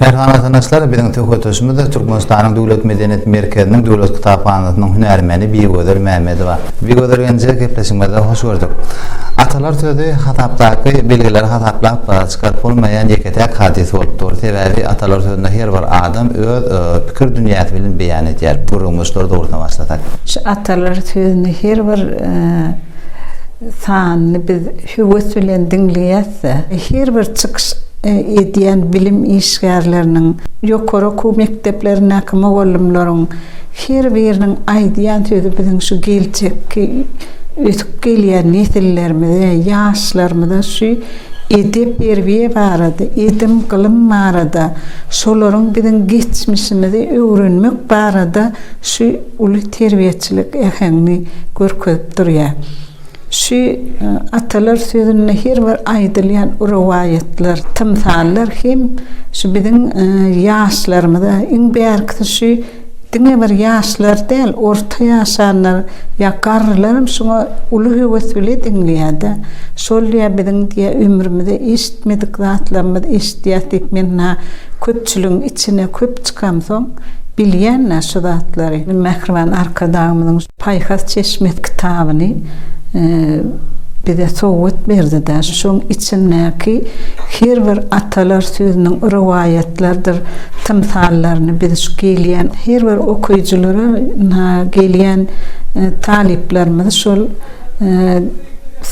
Merhan watanaşlar, biziň söhbetdeşimiz Türkmenistanyň Döwlet medeniýet merkeziniň Döwlet kitaphanasynyň hünärmeni Bigözel Mämmedowa. Bigözel genji gepleşigimizde hoş gördük. Atalar sözi hasapdaky belgileri hasaplap çykaryp bolmaýan ýeke-täk hadys bolup dur. Sebäbi atalar sözüni her bir adam öz pikir dünýäsi bilen beýan edýär. Gürrüňi şular dogrusynda başlasak. Şu atalar sözüni her bir sanyny biz höwes bilen diňleýäs. ýetmezse, her bir çykyş edýän bilim işgärleriniň, ýokary okuw mekdeplerindäki mugallymlaryň her biriniň aýdýan sözi biziň şu geljekki ösüp gelýän nesillerimize, ýaşlarymyza şu edep-terbiýe barada, edim-gylym barada, şolaryň biziň geçmişimizi öwrenmek barada şu uly terbiýeçilik äheňini görkezip durýar. Şu atalar sözünde her bir aýdylýan rowaýatlar, tymsallar hem şu biziň ýaşlarymyza, iň bärkisi şu diňe bir ýaşlar däl, orta ýaşanlar ýa garrylaram şuňa uly höwes bile diňleýär-de. Şol diýýär, biziň diýýär, ömrümizde eşitmedik zatlarymyz eşidýäs diýip, men ynha köpçüligiň içine köp çykamsoň, bilýän-dä şu zatlary. Mähriban Arkadagymyzyň. Paýhas çeşmesi kitabyny bize sowgat berdi-de, şoň içindäki her bir atalar sözüniň rowaýatlardyr tymsallaryny biz şu gelýän her bir okyjylara, ynha, gelýän talyplarymyzy şol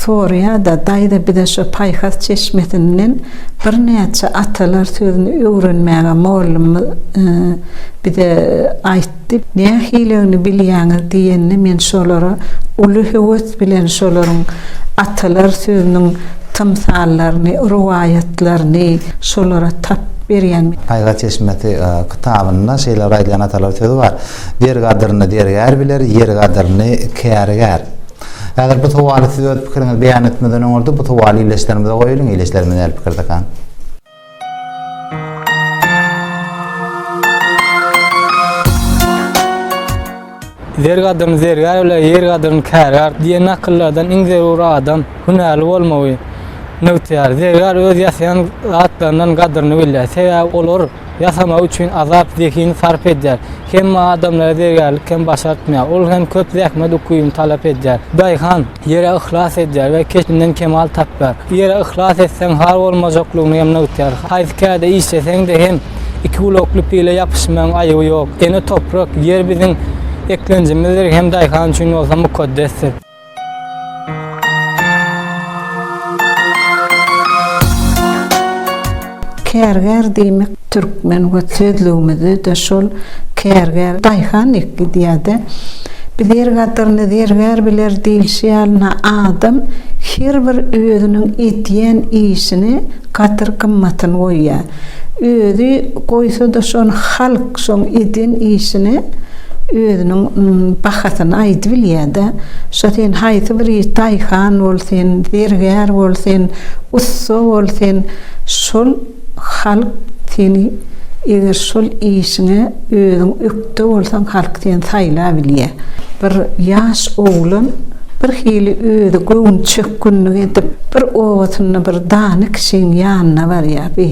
soraýar-da, Daýza, bize şo Paýhas çeşmesinden birnäçe atalar sözüni öwrenmäge mollumyz bize aýt. Diýip, nähiligini bilýäňiz diýende men şolara uly höwes bilen şolaryň atalar sözüniň tymsallaryny, rowaýatlaryny şolara tap berýän. Paýhas çeşmesi kitabynda şeýle bir aýdylýan atalar sözi bar, Der gadyryny dergär biler, ýer gadyryny kärgär. Häzir bu sowaly siz öz pikiriňizi beýan etmezden öňürti bu sowaly ildeşlerimize goýalyň, ildeşlerimiz nähili pikirdekä? Zer gadryny zergär bile, ýer gadryny kärgär diýen nakyllardan iň zerur adam hünärli bolmagy nygtaýar. Zergär öz ýasaýan zatlarynyň gadryny bilýär, sebäbi olary ýasamagy üçin azap zehin sarp edýär. Hemme adamlara zergärlik hem başartmaýar, ol hem köp zähmet ukybyny talap edýär. Daýhan. Ýere yhlas edýär we keşbinden kemal tapýar. Ýere yhlas etseň har bolmajaklygyňy hem nygtýar. Haýsy kärde işleseň-de hem iki gulakly pile ýapyşmagyň aýyby ýok. Ene toprak, ýer biziň eklenjimizdir hem daýhan üçin bolsa mukaddesdir. Kärgär diýmek türkmen we sözlügimizde-de şol kärgär daýhan ekidýär-de. Bilir gadyryny zergär biler diýlişi ýalyna adam her bir özüniň edýän işine gadyr gymmatyny goýýar. Özi goýsa-da şony halk şoň eden işine özüniň bahasyny aýdybilýär-de. Şo sen haýsy bir iş daýhan bol sen, zergär bol sen, ussa bol sen, Şol halk seni eger şol işiňe özüň ökde bolsaň halk seni saýlabilýä. Bir ýaş oglan bir hili özi göwün çökgünlik edip bir obasynda bir dana kişiň ýanyna barýa bi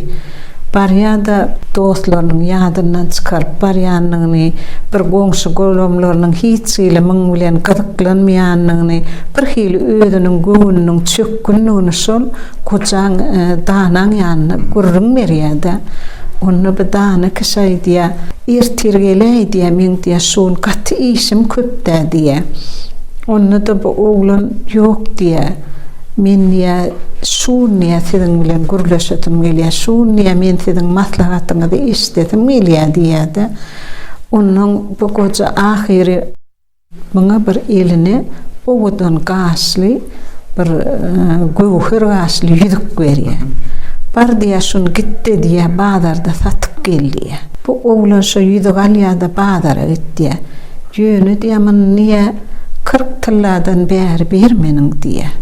barýada dostlarynyň ýadyndan çykaryp barýanyny bir goňşy golamlarynyň hiç hili muň bilen gyzyklanmaýanyny bir hili özüniň göwnüniň çökgünligini şol Gojaň danaň ýanyna gürrüň berýär-de, onda bir dana kişi aýdýar, Ertir geläý diýýär, meň diýýär, şu gün gaty işim köp-dä diýýär. Onda-da bu oglan, Ýok diýýär, men diýýär, şu gün diýýär, siziň bilen gürleşesim gelýär, şu gün diýýär, men siziň maslahatyňyzy eşidesim gelýär diýýär-de, onnoň bu goja ahyry. Muňa bir eline owadan gaşly, bir göwher gaşly ýüzük berýär. Bar diýýär, şuny git-de diýýär, bazarda satyp gel diýýär. Bu oglan şo ýüzügi alýar-da bazara git diýýär. Ýöne diýýär, muny niýe kyrk tylladan bäri bermeniň diýýär.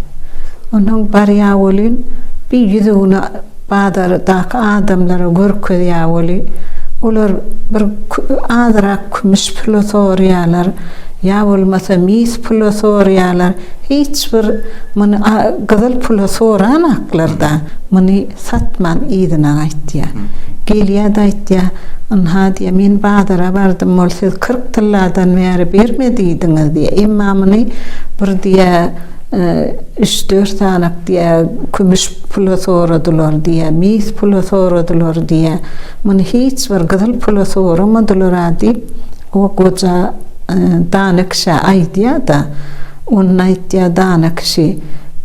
Onsoň barýar welin, bir ýüzügini. Bazardaky adamlara görkezýär weli, olar bir azyrak kümüş pula soraýarlar, ýa bolmasa mis pula soraýarlar, hiç bir muny gyzyl pula soranaklar-da, muny satman yzyna gaýtýar. Gelýär-de aýtýar, Ynha, diýýär, men bazara bardym, ol siz kyrk tylladan bäri berme diýdiňiz, diýýär. Emma muny bir, diýýär, Üç-dört sanyk diýýär, kümüş pula soradylar diýýär, mis pula soradylar diýýär. Muny hiç bir gyzyl pula soramadylar-a diýip, o goja dana kişä aýdýar-da. Onda aýdýar dana kişi,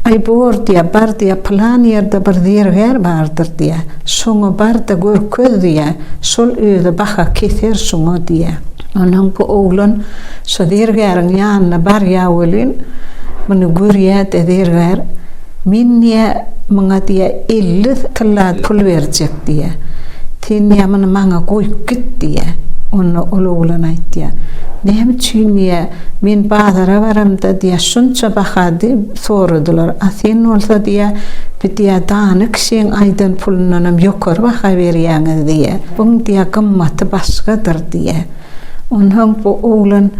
Aý, bor diýýär, bar diýýär, pylan ýerde bir zergär bardyr diýýär. Şoňa bar-da görkez diýýär. Şol özi baha keser şuňa diýýär. Onsoň bu oglan Şo zergäriň ýanyna barýa welin, muny görýä-de zergär, Men diýýä, muňa diýýä elli tylla pul berjek diýýä. Sen diýýä muny maňa goýup git diýýä. Onda ol oglan aýtýa, Näme üçin diýýä, men bazara baramda diýýä şunça baha diýip soradylar, a sen bolsa diýýä bir diýýä dana kişiň aýdan pulundanam ýokary baha berýäňiz diýýä. Buň diýýä gymmaty başgadyr diýýä. Onsoň bu oglan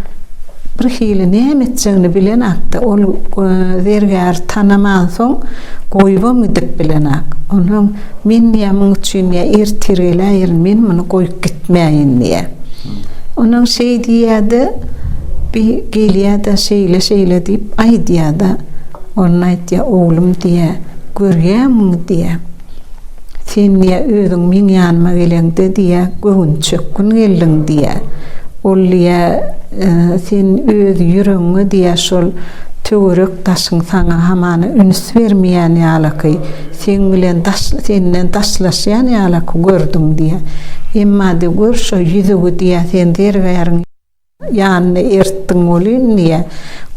birhili näme etjegini bilenokdy. Ol zergäri tanamansoň, goýubam gidip bilenok. Onsoň men diýýär, muň üçin diýýär, ertir geläýerin, men muny goýup gitmäýin diýýär. Onsoň şeý diýýär-de, bi gelýär-de, şeýle-şeýle diýip aýdýar-da. Onda aýdýar, oglum diýýär, görýäňmi diýýär. Sen diýýä, özüň meň ýanyma geleňde diýýä, göwünçökgün geldiň diýýä. Ol diýýä, Sen öz ýüregiňe diýýä, şol töwerek daşyň saňa hamana üns bermeýän ýalaky, seň bilen daş senden daşlaşýan ýalaky gördüň diýýä. Emma diýýä, gör şo ýüzügi diýýä, sen zergäriň. Ýanyna ertdiň welin, diýýär.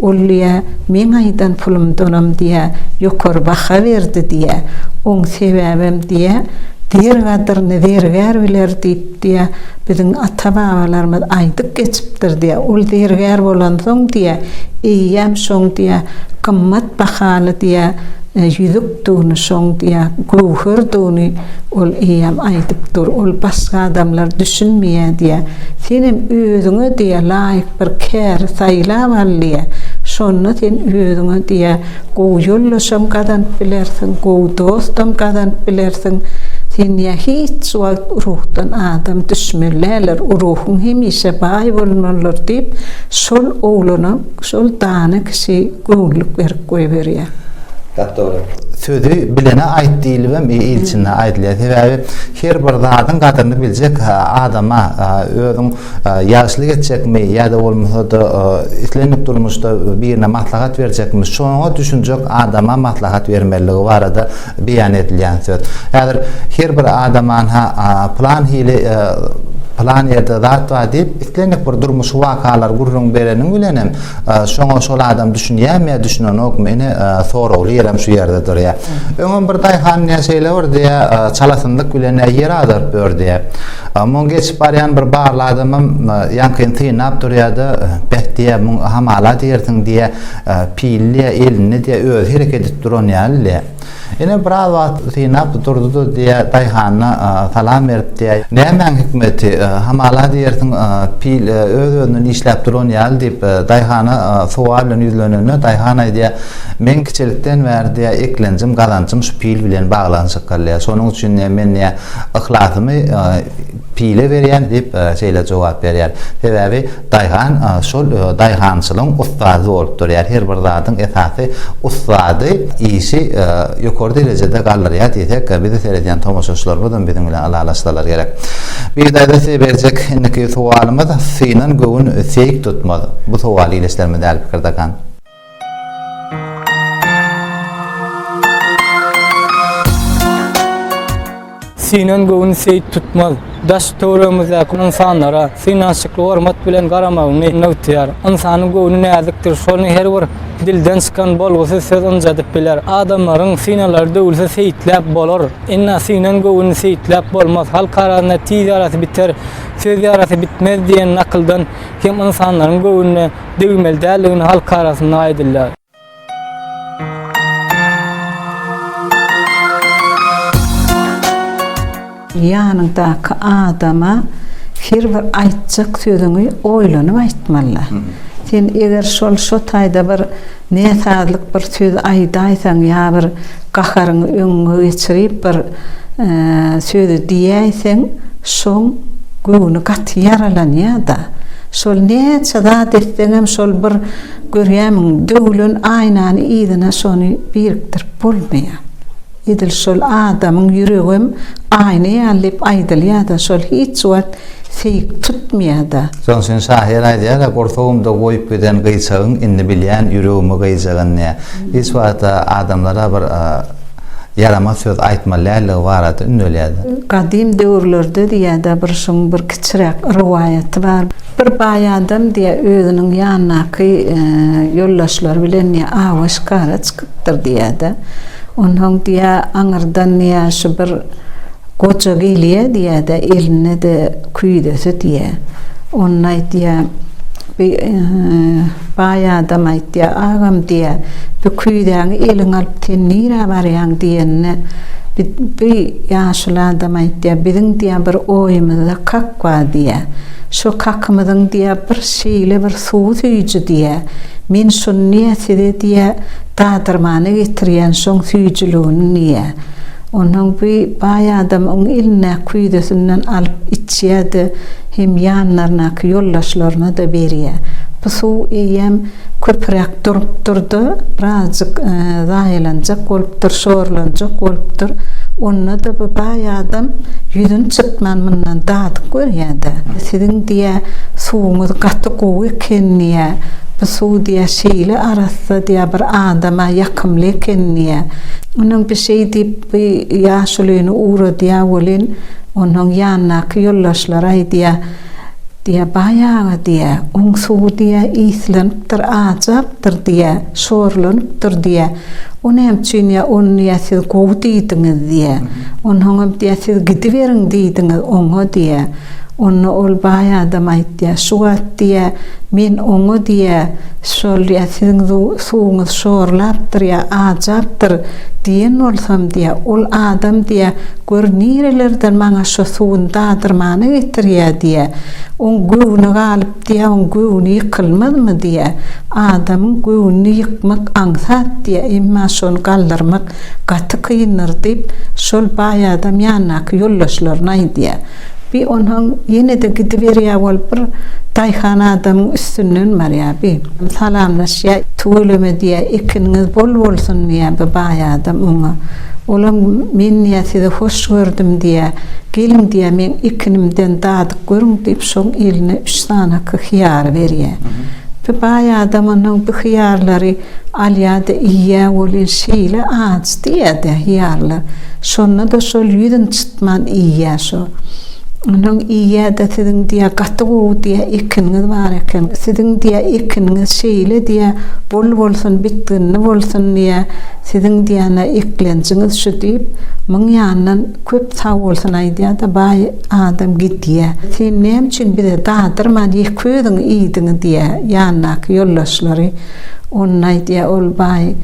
Ol, diýýär, meň aýdan pulumdanam, diýýär, ýokary baha berdi, diýýär. Oň sebäbem, diýýär, Zer gadyryny zergär biler diýip, diýýär, biziň ata-babalarymyz aýdyp geçipdir, diýýär. Ol zergär bolansoň, diýýär, eýýäm şoň, diýýär, gymmat Bahaly diýä, ýüzük dugny şoň diýä, göwher dugny ol eýýäm aýdyp dur, ol başga adamlar düşünmeýä diýä. Senem özüňe diýä laýyk bir käri saýlap al diýä. Şonda sen özüňe diýä gowy ýoldaşam gazanyp bilersiň, gowy dostam gazanyp bilersiň. Sen diýä hiç wagt urugdan adam düşmeli däldir, urugyň hemişe baý bolmalydyr diýip, şol oglana şol dana kişi Göwünlik berip goýberýär. Gap dogry. Sözi bilene aýt diýlibem ilçinde aýdylýar. Sebäbi her bir zadyň gadyryny biljek adama özüň ýagşylyk etjekmi ýa-da bolmasa-da islendik durmuşda birine maslahat berjekmi, şoňa düşünjek adama maslahat bermelidigi barada Beýan edilýän söz. Häzir her bir adam anha plan hili plan ýerde zat bar diýip, islendik bir durmuşy wakalary gürrüň bereniň bilen hem şoňa şol adam düşünýärmi ýa düşünenokmy ine soragly ýerem şu ýerde durýar. Öňem bir daýhan diýen şeýle bir diýä çalasynlyk bilen ýer agdaryp ýör diýä. Muň geçip barýan bir barly adamym ýaňkyn synlap durýardy. Beh diýä muň hamala diýersiň diýä Pille elini diýe özi hereket edip duran ýaly diýe. Ine biraz wagt synap durdy-da diýe daýhana salam berip diýe. Nämäň hikmeti, hamala diýersiň pil öz-özünden işläp duran ýaly diýip daýhana sowal bilen ýüzlenende daýhan aýdýa, Meň kiçilikden bäri diýe eklenjim, gazanjym şu pil bilen baglanyşykly diýe. Şonuň üçin diýe men diýe yhlasymy Pile berýän, diýip, şeýle jogap berýär. Sebäbi daýhan şol daýhançylygyň ussady bolup durýar. Her bir zadyň esasy ussady işi ýokary derejede galdyrýar diýsek, bize seredýän tomaşaçylarymyzam biziň bilen ylalaşsalar gerek. Bigdaýda size berjek indiki sowalymyz, Synan göwün seýik tutmaz. Bu sowal ildeşlerimiz däl pikir dakan. Synan göwün seýt tutmaz. Daş-töweregimizdäki ynsanlara synanşykly hormat bilen garamagyňy nygtaýar. Ynsanyň göwni näzikdir, şony her bir dilden çykan bolgusyz söz ynjadyp biler. Adamlaryň synalary döwülse seýtläp bolar, emma synan göwün seýtläp bolmaz. Halk arasynda Tiz ýarasy biter, söz ýarasy bitmez diýen nakyldan hem ynsanlaryň göwnüne degmeli däldigini halk arasynda aýdylýar. Ýanyňdaky adama her bir aýtjak sözüňi oýlanyp aýtmaly. Sen eger şol şo taýda bir Ne sazlyk bir söz aýdaýsaň ýa bir gaharyňy öňüňe geçirip bir sözi diýäýseň şoň göwni gaty ýaralanýada. Şol näçe zat etseňem şol bir görýämiň döwlen aýnany yzyna şony birikdirip bolmaýa. Edil şol adamyň ýüregem aýna ýaly diýip aýdylýada şol hiç wagt seýik tutmaýada. Şoň üçin şahyr aýdýara Gursagymda goýup giden gyýçagyň indi bilýän ýüregimi gyýjagyn diýýär. Hiç wagtda adamlara bir ýaramaz söz aýtmaly däldigi barada ündelýärdi. Gadym döwürlerde diýýärda bir şuň bir kiçiräk rowaýaty bar. Bir baý adam diýýär özüniň ýanyndaky ýoldaşlary bilen diýýär awa şikara çykyp. Ýitdir diýýär-de. Onsoň diýýär, aňyrdan diýýär, şu bir goja gelýär diýýär-de, elinde-de küýzesi diýýär. Onda aýdýar, bi baý adam aýdýar, Agam diýýär, bu küýzäňi eliňe alyp sen nirä barýaň diýenine, bi ýaşuly adam aýdýar, biziň diýýär, bir oýumyzda kak bar diýýär. Şo kakymyzyň diýýär, bir şeýle bir Suwy süýji diýä. Men şuny niýe size diýä dadyrmana getirýän şoň süýjüligini niýe. Onsoň bi baý adam oň elindäki küýzesinden alyp içýä-de hem ýanlaryndaky ýoldaşlaryna-da berýä. Bu suw eýýäm köpüräk durupdyr-da, birazjyk zaýalanjak bolupdyr, şorlanjak bolupdyr. Onda-da bi baý adam ýüzüni çytman mundan dadyp görýä-de. Siziň Diýä, Suwuňyz gaty gowy eken diýä. Bu suw diýä şeýle arassa diýä bir adama ýakymly eken diýä. Onuň bir şeý diýip bu ýaşulyny ugradýa welin, onuň ýandaky ýoldaşlary aýdýa, diýä, Baýaga diýä, oň suwy diýä islenipdir, ajapdyr diýä, şorlanypdyr diýä. O näme üçin diýä, ony diýä siz gowy diýdiňiz diýä. Onsoňam diýä siz gidiberiň diýdiňiz oňa diýä. Onda ol baý adam aýtýar, şu wagt diýýä, men oňa diýýä, şol ýa siziň suwuňyz şorlapdyr ýa ajapdyr diýen bolsam diýýä, ol adam diýýä, gör nirelerden maňa şo suwuny dadyrmana getirýä diýýä, oň göwni galyp diýýä, oň göwni ýykylmazmy diýýä, adamyň göwnüni ýykmak aňsat diýýä, emma şony galdyrmak gaty kyndyr diýip, şol baý adam ýandaky ýoldaşlaryna aýdýa. Bi onsoň ýene-de gidiberýär bolup bir daýhan adamyň üstünden barýar bi. Salamlaşýar. Tüweleme diýýär, ekiniňiz bol bolsun diýýär bi baý adam oňa. Olam men diýýär sizi hoş gördüm diýýär. Geliň diýýär meň ekinimden dadyp görüň diýip şoň eline üç sanaky hyýary berýär. Bi baý adam onsoň bi hyýarlary alýar-da iýýär welin şeýle ajy diýýär-de hyýarlar. Şonda-da şol ýüz nji Tutman iýýä şo. Onuň iýýä-de siziň diýýä gaty gowy diýýä ekiniňiz bar eken. Siziň diýýä ekiniňiz şeýle diýýä bol bolsun bitginli bolsun diýýä siziň diýýä-ne eklenjiňiz şu diýip myň ýandan köp sag bolsun aýdýa-da baý adam gidýä. Sen näme üçin bize dadyrman ýeke özüň iýdiň diýýä ýandaky ýoldaşlary. Onda aýdýar ol baý,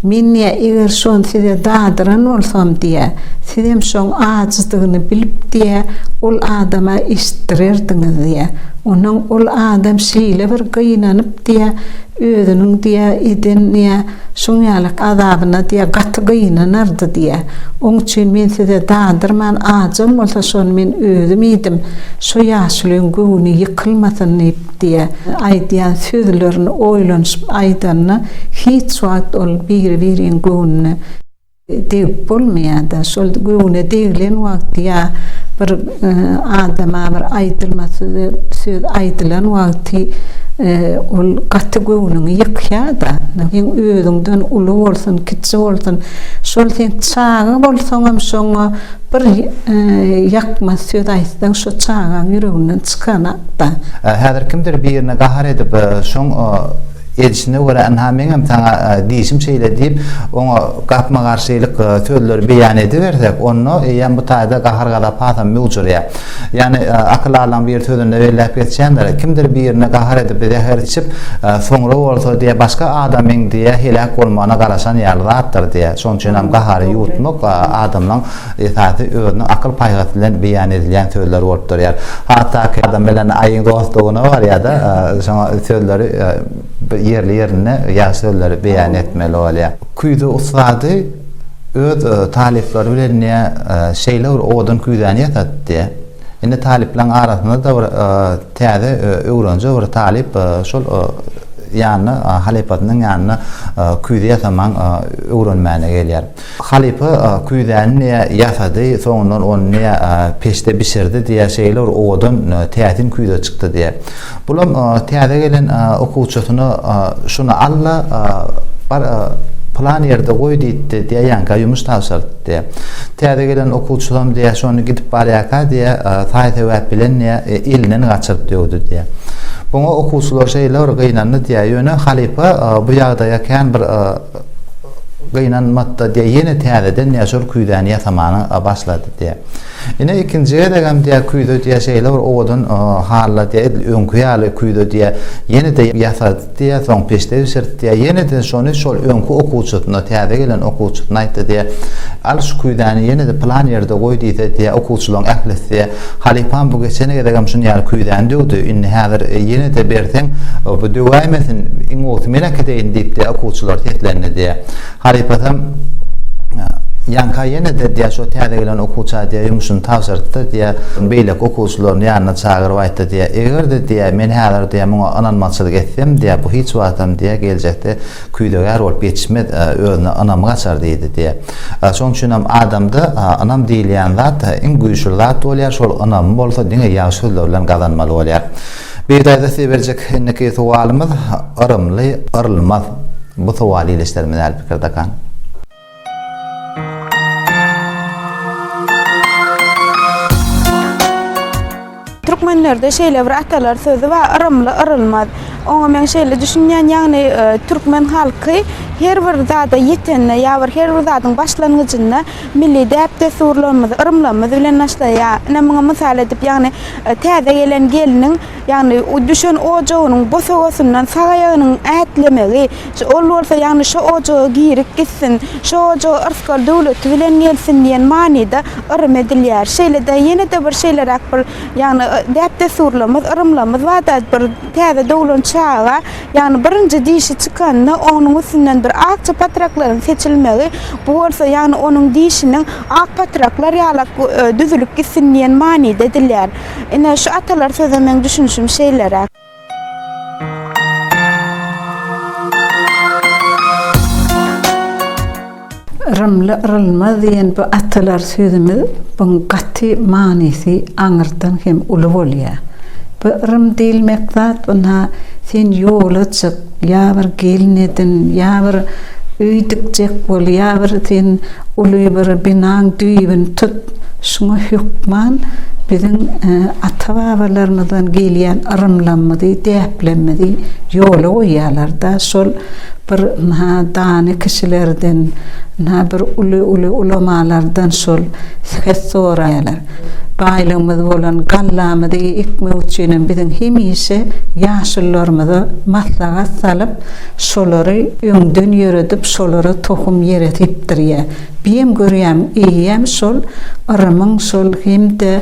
Men diýýär, eger şony size dadyran bolsam diýýär, sizem şoň ajydygyny bilip diýýär, ol adama eşitdirerdiňiz diýýär. Ondan ol adam şeýle bir gynanyp diýýär, özüniň diýýär, eden diýýär, şuň ýaly azabyna diýýär, gaty gynanardy diýýär. Oň üçin men size dadyrman, ajam bolsa şony men özüm iýdim, şu ýaşulyň göwni ýykylmasyn diýip, Diýýär. Aýdýan sözlerini oýlanyşyp aýdanda hiç wagt ol biri-biriň göwnüne degip bolmaýar-da. Şol göwne degilen wagty ýa bir adama bir aýdylmasy söz aýdylan wagty ol gaty göwnüňi ýykýar-da. Sen özüňden uly bolsun, kiçi bolsun, şol sen çaga bolsaňam şoňa Bir ýakmaz söz aýtsaň şo çagaň ýüreginden çykan atda. Häzir kimdir birine gahar edip şoň edişine görä ynha meňem saňa diýişim şeýle diýip oňa gapma-garşylyk sözleri beýan edibersek onda eýýäm bu taýda gahar-gazap hasam möwjürýär. Ýagny, akyl alan bir sözünde belläp geçýändir, Kimdir birine gahar edip, zäher içip, soňra bolsa diýe başga adamyň diýe heläk bolmagyna garaşan ýaly zatdyr diýe. Şonuň üçin hem gahary ýuwutmak adamlaň esasy özüniň akyl paýhasy bilen beýan edilýän sözler bolup durýar. Hatdaky adam bilen aýyň dostlugyna barýar-da, şoňa sözleri bir ýerli-ýerinde ýagşy sözleri beýan etmeli bolýar. Küýze ussady. Öz talyplary bilen ne şeýle bir odun küýzäni ýasatdy. Indi talyplaryň arasynda-da bir täze öwrenje bir talyp şol ýanyna halypasynyň ýanyna küýze ýasamaň öwrenmäne gelýär. Halypa küýzäni ne ýasady, soňundan ony ne peçde bişirdi diýýär, şeýle bir odun täsin küýze çykdy diýýär. Bulam täze gelen okuwçysyna şuny al-da, bar pylan ýerde goý diýipdi diýýä, ýaňka ýumuş tabşyrypdy diýýä. Täze gelen okuwçysam diýýä, şony gidip barýarka diýýä, saý-sebäp bilen diýýä, elinden gaçyryp döwdi diýýä. Buňa okuwçylar şeýle bir gynandy diýýä, ýöne halypa bu ýagdaýa kän bir gynanmady-da diýýä, ýene täzeden diýýä şol küýzäni ýasamana başlady diýýä. Ine ikinji gezegem diýýär küýze diýýär şeýle bir owadan halla diýýär edil öňki ýaly küýze diýýär ýene-de ýasady diýýär soň peçde bişirdi diýýär ýene-de şony şol öňki okuwçysyna täze gelen okuwçysyna aýtdy diýýär al şu küýzäni ýene-de pylan ýerde goý diýse diýýär okuwçylaryň ählisi diýýär halypam bu geçen gezegem şuny ýaly küýzäni döwdi indi häzir ýene-de berseň bu döwäýmesin iň gowusy men äkideýin diýip diýýär okuwçylar seslendi diýýär. Halypasam, Ýaňka ýene-de diýýär, şo täze gelen okuwça diýýär, ýumşuny tabşyrt-da diýýär, beýleki okuwçylaryny ýanyna çagyryp aýt-da diýýär, eger-de diýýär, men häzir diýýär, muňa ynanmazçylyk etsem diýýär, bu hiç wagtam diýýär, geljekde küýzegär bolup ýetişmez, özüne ynamy gaçar diýdi diýýär. Şonuň üçinem adamda ynam diýilýän zat iň güýçli zat bolýar, şol ynamy bolsa diňe ýagşy sözler bilen gazanmaly bolýar. Bir daýza size berjek indiki sowalymyz yrymly yrylmaz. Bu sowaly ildeşlerimiz äli pikir dakan. Türkmenlerde şeýle bir atalar sözi bar, yrymly yrylmaz. Oňa men şeýle düşünýän, ýagny türkmen halky her bir zada ýetende ýa bir her bir zadyň başlangyjynda milli däp-dessurlarymyzy, yrymlarymyz bilen başlaýar. Ine muňa mysal edip, ýagny Täze gelen gelniň, ýagny düşen ojagynyň bosagasyndan sag aýagynyň ätlemegi, ol bolsa, ýagny şo ojaga girip gitsin, şo ojaga yrsgal döwleti bilen gelsin diýen manyda yrym edilýär. Şeýle-de ýene-de bir şeýleräk bir, ýagny däp-dessurlarymyz, yrymlarymyz barda bir täze doglan çaga, Ýagny birinji dişi çykanda onuň üstünden bir akja patraklaryň seçilmegi, bu bolsa ýagny onuň dişiniň ak patraklar ýalak düzülip gitsin diýen manyda edilýär. Ine, şu atalar söze meň düşünişim şeýleräk. Yrymly yrylmaz diýen bu atalar sözümiz buň gaty manysy aňyrdan hem uly bolýa. Bu yrym diýilmek zat ynha sen ýola çyk, ýa bir gelin edin, ýa bir öý dikjek bol, ýa bir sen uly bir binaň düýbini tut. Şuňa hökman biziň ata-babalarymyzdan gelýän yrymlamyzy, däplemmizi ýola goýýalar-da, şol Bir ynha dany kişilerden, ynha bir uly-uly ulamalardan şol sket soraýarlar. Baýlygymyz bolan gallamyzy ekmek üçinem biziň hemişe ýaşullarymyza maslahat salyp, şolary öňden ýöredip, şolara tohum ýere sepdirýär. Biem görýäm, eýýäm şol yrymyň şol hem-de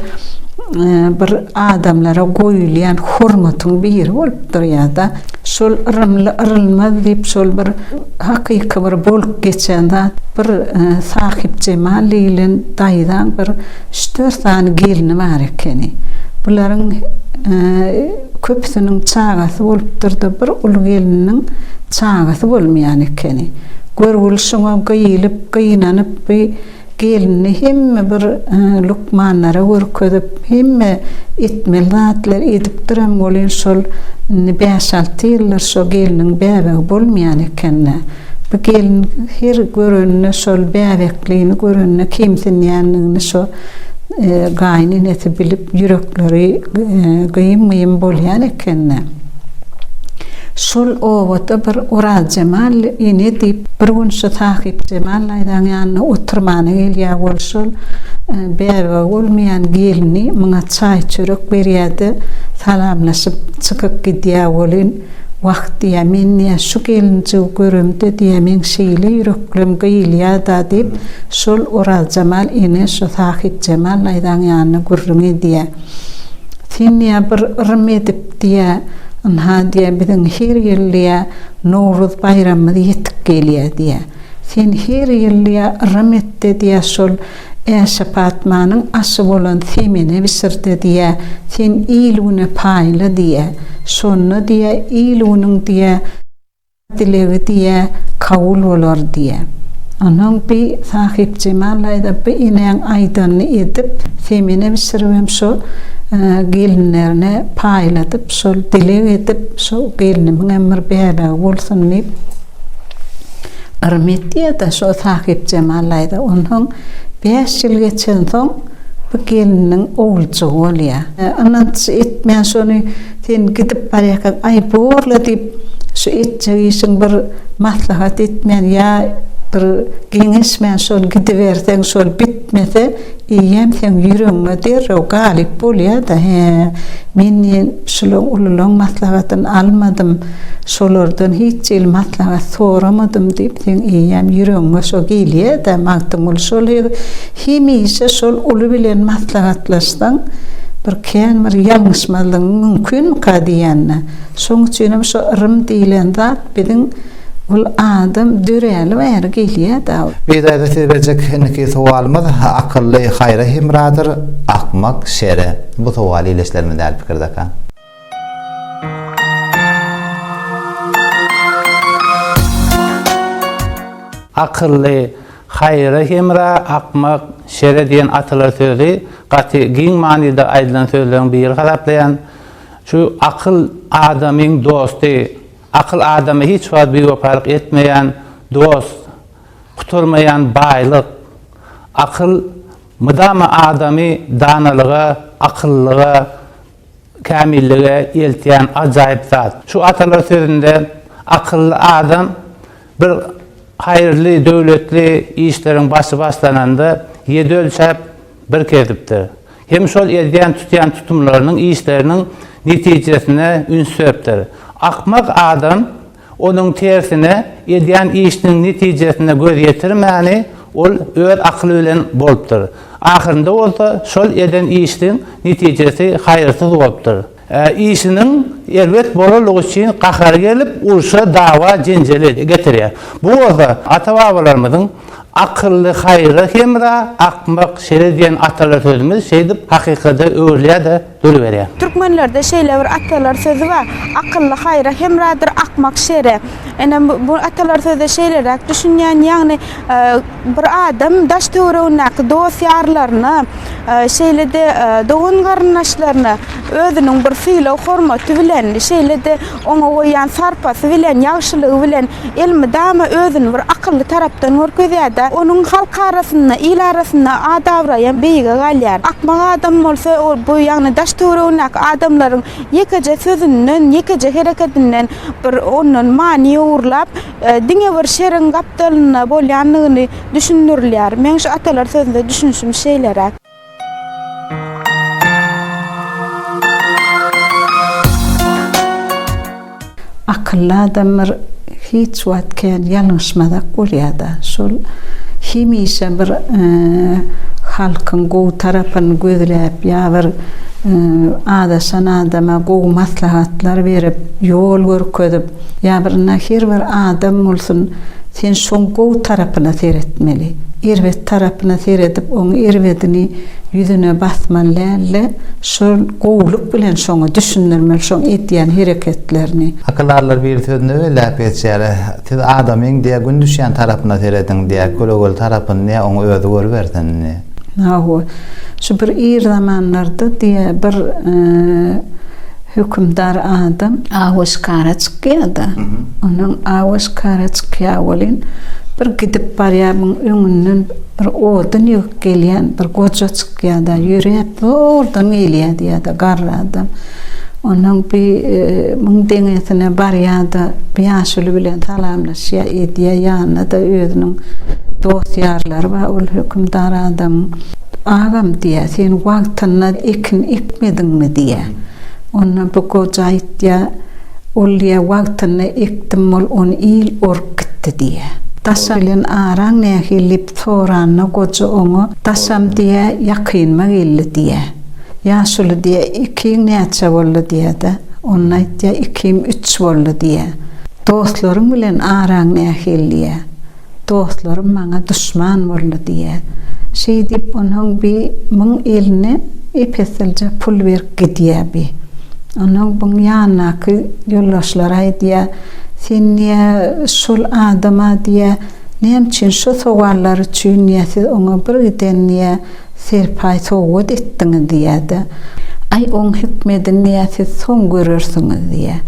bir adamlara goýulýan hormatyň biri bolup durýar-da. Şol yrymly yrylmaz diýip şol bir hakyky bir bolup geçen zat bir Sahypjemal diýilen daýzaň bir üç dört sany gelni bar ekeni. Bularyň köpüsiniň çagasy bolupdyrda bir uly gelniniň çagasy bolmaýan ekeni. Görgüli şoňa gyýylyp gynanyp bi Gelini hemme bir lukmanlara görkezip, hemme etmeli zatlar edipdirem, welin şol indi bäş-alty ýyldyr şo gelniň bäbegi bolmaýan eken-de. Bu gelin her görende, şol bäbeklini görende kemsinýändigini şo gaýyn enesi bilip, ýürekleri gyýym-gyýym bolýan eken-de. Şol obada bir Orazjemal ene diýip, bir gün şu Sahypjemal daýzaň ýanyna oturmana gelýär we şol bäbegi bolmaýan gelni muňa çaý-çörek berýär-de, salamlaşyp, çykyp gidýär welin, Wah, diýýär, men, diýýär, şu gelinjigi göremde, diýýär, meň şeýle ýüreklem gyýylýar-da, diýip, şol Orazjemal ene şu Sahypjemal daýzaň ýanyna gürrüň edýär. Sen diýýär, bir yrym edip diýýär, ynha diýýär, biziň her ýyl diýýär, Nowruz baýramymyz ýetip gelýär diýýär. Sen her ýyl diýýär, yrym et-de diýýär, şol Äşe-Patmanyň aşy bolan semene bişir-de diýýär, sen il-güne paýla diýýär. Şonda diýýär, il-günüň diýýär, Dilegi diýe, kabul bolar diýe. Onuň bi Sahypjemal daýza bi inäň aýdanyny edip, semene bişiribem şo gelinlerine paýladyp, şol dileg edip, şo gelnimiňem bir bäbegi bolsun diýip, yrym etýär-de şo Sahypjemal daýza. Onsoň bäş ýyl geçensoň bi gelininiň oguljygy bolýar. Ynanç etmän şony. Sen gidip barýarkaň, Aý, bor-la diýip, şu etjek işiň bir maslahat etmän ýa bir geňeşmän şol gidiberseň, şol bitmese, eýýäm seň ýüregiňe derrew galyp bolýar-da, Hä, men diýen şulaň ululaň maslahatyny almadym, şolardan hiç hili maslahat soramadym diýip, seň eýýäm ýüregiňe şo gelýär-dä, Magtymguly şol Hemişe şol uly bilen maslahatlaşsaň, bir kän bir ýalňyşmazlygyň mümkinmika diýende. Şoň üçinem şu yrym diýlen zat biziň ol adam döräli bäri gelýä-dä. Bizaýda siz berjek indiki sowalymyz Akylly haýra hemradyr, akmak şere. Bu sowal ileçlerimiz däl pikirde ka. Akylly, haýyra hemra, akmak, şere diýen atalar sözi gaty giň manyda aýdylan sözleriň biri hasaplaýan. Şu akyl adamyň dosty. Akyl adama hiç wagt biwepalyk etmeýän dost, gutarmaýan baýlyk. Akyl mydama adamy danalyga, akyllylyga. Kämillige eltýän ajaýyp zat. Şu atalar sözünde akylly adam bir haýyrly, döwletli işleriň başy başlananda ýedi ölçäp, bir kesipdir. Hem şol edýän, tutýan tutumlarynyň, işleriniň netijesine üns beripdir. Akmak adam Onuň tersine, edýän işiniň netijesine göz ýetirmäni ol öz akyly bilen bolupdyr. Ahyrynda bolsa şol eden işiniň netijesi haýyrsyz bolupdyr. Işiniň erbet bolanlygy üçin gahary gelip, urşa, dawa, jenjele getirýär. Bu bolsa ata-babalarymyzyň Akylly haýra hemra, akmak şere diýen atalar sözümiz şeýdip hakykada öwrülýär-de, duruberýär. Türkmenlerde şeýle bir atalar sözi bar, Akylly haýra hemradyr, akmak şere. Ine, bu atalar söze şeýleräk düşünýän, ýagny bir adam daş-töweregindäki dost-ýarlaryna, şeýle-de dogan-garyndaşlaryna özüniň bir sylag-hormaty bilen, şeýle-de Oňa goýýan sarpasy bilen, ýagşylygy bilen elmydama özüni bir akylly tarapdan görkezýär-de, onuň halk arasynda, il arasynda at-abraýam beýige galýar. Akmak adam bolsa ol bu, ýagny daş-töweregindäki adamlaryň ýekeje sözünden, ýekeje hereketinden bir ondan many ugurlap, diňe bir şeriň gapdalynda bolýandygyny düşündirilýär. Meň şu atalar sözüne düşünişim şeýleräk. Akylly adamlar hiç wagt kän ýalňyşmazak bolýada. Şol hemişe bir halkyň gowy tarapyny gözläp ýa bir azaşan adama gowy maslahatlar berip, ýol görkezip, Ýa bir nahir bir adam bolsun, sen şoň gowy tarapyna seretmeli. Erbet tarapyna seredip, oň erbedini ýüzüne basmaly däl-de, şol gowulyk bilen şoňa düşündirmeli şoň edýän hereketlerini. Akyldallar bir sözünde we läp geçýär, Siz adamyň diýe gün düşýän tarapyna serediň diýe, kölegeli tarapyny diýe oň özi görübersin. Hawa, şu bir ir zamanlarda diýe bir hökümdar adam awa şikara çykýa-da, onuň awa şikara çykýa welin, bir gidip barýa, muň öňünden bir odun ýygyp gelýän bir goja çykýa-da, ýöräp zordan gelýä diýýä-de, garry adam. Onuň bi müň deňesine barýar-da, ýaşuly bilen salamlaşýar, edýär, ýanynda-da özüniň dost-ýarlary bar, ol hökümdar adamyň. Agam, diýýär, sen wagtynda ekin ekmediňmi? diýýär. Onda bu goja aýtýar, Ol, diýýär, wagtynda ekdim, mol ony il orup gitdi, diýýär. Daşam bilen araň nähili? diýip soranda, goja oňa, Daşam, diýýär, ýakynma geldi, diýýär. Ýaşuly diýýä, Ikiň näçe boldy? diýýä-de, onda aýtýa, Ikim üç boldy diýýä. Dostlaryň bilen araň nähili diýýä. Dostlarym maňa duşman boldy diýýä. Şeýdip, onsoň bi biň eline ep-eslije pul berip gidýä bi. Onsoň biň ýanyndaky ýoldaşlary aýdýa, Sen diýýä, şol adama diýýä, näme üçin, şu sowallar üçin diýýä, siz oňa bir giden diýýä, Serpaý sowgat etdiňiz diýýär-de, Aý, oň hikmedini diýýär, siz soň görersiňiz diýýär.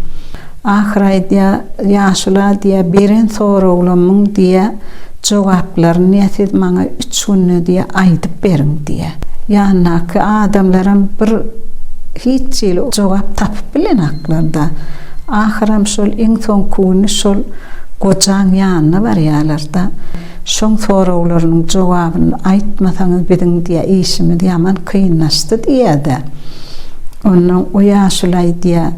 Ahyry aýdýar, Ýaşula diýýär, beren soraglamyň diýýär, jogaplaryny diýýär, siz maňa üç günde diýýär, aýdyp beriň diýýär. Ýanyndaky adamlaram bir hiç hili jogap tapyp bilenoklar-da. Ahyram şol iň soňky güni şol gojaň ýanyna barýarlar-da. Şoň soraglarynyň jogabyny aýtmasaňyz biziň diýä işimiz ýaman kynlaşdy diýýädä. Onnoň o ýaşulaý diýä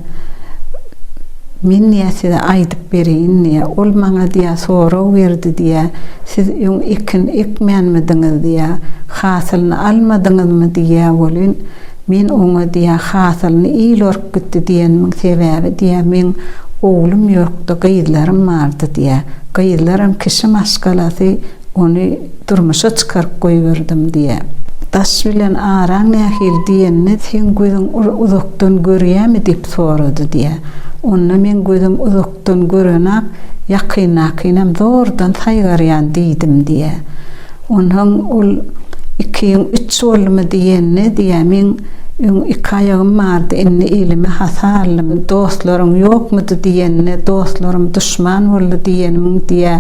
Men diýä size aýdyp bereýin diýä. Ol maňa diýä sorag berdi diýä. Siz öň ekin ekmänmidiňiz diýä. Hasylyny almadyňyzmy diýýä welin. Men oňa diýýä hasylyny il orup gitdi diýenimiň sebäbi diýýä meň oglum ýokdy gyzlarym bardy diýýä gyzlaram kişi maşgalasy ony durmuşa çykaryp goýberdim diýýä. Daş bilen araň nähili diýende seň gözüň uzakdan görýämi diýip sorady diýýä onda meň gözüm uzak Uzakdan gören-ak, ýakyndakyňam zordan saýgarýan diýdim diýýä. Onsoň ol Iki ýüň üç boldumy diýende diýýä, meň öň iki aýagym bardy, indi elimi hata aldym, dostlaryň ýokmudy diýende, dostlarym duşman boldy diýenimiň diýýä,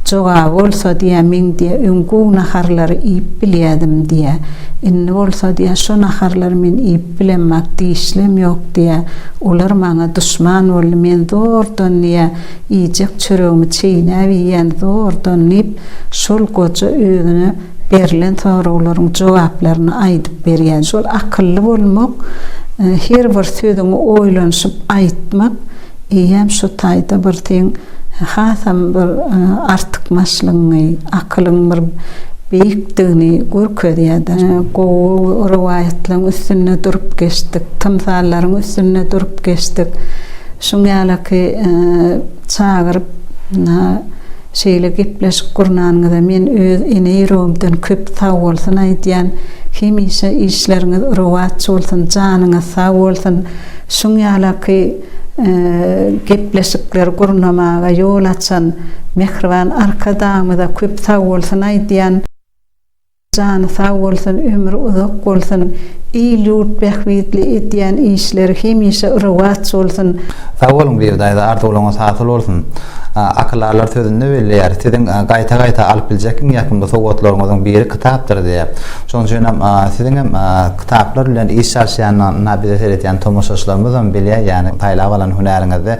jogaby bolsa diýýä, meň diýýä, öň gowy naharlary iýip bilýädim diýýä. Indi bolsa diýýä, şo naharlary men iýip bilemok, dişlem ýok. diýýä. Olar maňa duşman boldy, men zordan, diýýä, iýjek çöregimi çeýnäp iýýän, zordan, diýip, şol goja özüne berlen soraglaryň jogaplaryny aýdyp berýä. Şol akylly bolmak, her bir sözüňi oýlanyşyp aýtmak. Eýýäm şu taýda bir seň hasam bir artykmaçlygyňy, akylyň bir beýikdigini görkezýär-de. Gowy rowaýatlaryň üstünde durup geçdik, tymsallaryň üstünde durup geçdik. Şuň ýalyky çagyryp, Şeýle gepleşik gurnanyňyza men öz ene ýüregimden köp sagbolsun aýdýan, hemişe işleriňiz rowaç bolsun, janyňyz sag bolsun, şuň ýalaky gepleşikleri gurnamaga ýol açan Mähriban Arkadagymyza köp sagbolsun aýdýan. Jany sag bolsun ömri uzak bolsun il ýurt bähbitli edýän işleri hemişe rowaç bolsun. Sag boluň Bibi daýza arzuwlaryňyz hasyl bolsun. Akylarlar sözünde belleýär, siziň gaýta gaýta alyp biljek iň ýakymly sowgatlaryňyzyň biri kitapdyr diýip. Şonuň üçinem siziň hem kitaplar bilen iş çalyşýanyna bize seredýän tomaşaçylarymyzam bilýär, ýagny saýlap alan hünäriňizde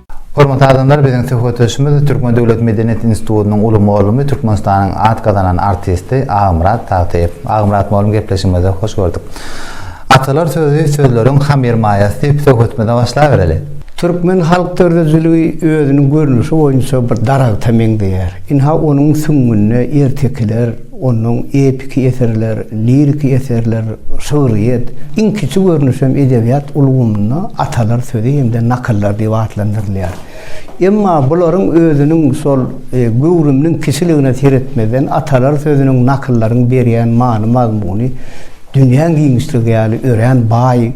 Hormatly adamlar biziň söhbetdeşimiz Türkmen döwlet medeniýet institutynyň uly molymy Türkmenistanyň at gazanan artisti Agymyrat Tagtyýew. Agymyrat molym gepleşigimize hoş gördük. Atalar sözi sözleriň hamyr maýasy diýip söhbetimize başlabereli. Türkmen halk dördüjiligi özüniň görnüşi boýunça bir daragta meňzeýär. Ynha onuň süňňünde ertekiler, Onuň epiki eserler, liriki eserler, şygryýet, iň kiçi görnüşem edebiýat ulgamynda atalar sözi hem-de nakyllar diýip atlandyrylýar. Emma bularyň özüniň şol göwrüminiň kiçiligine seretmezden, atalar sözüniň, nakyllaryň berýän many-mazmuny dünýäň giňişligi ýaly örän baý.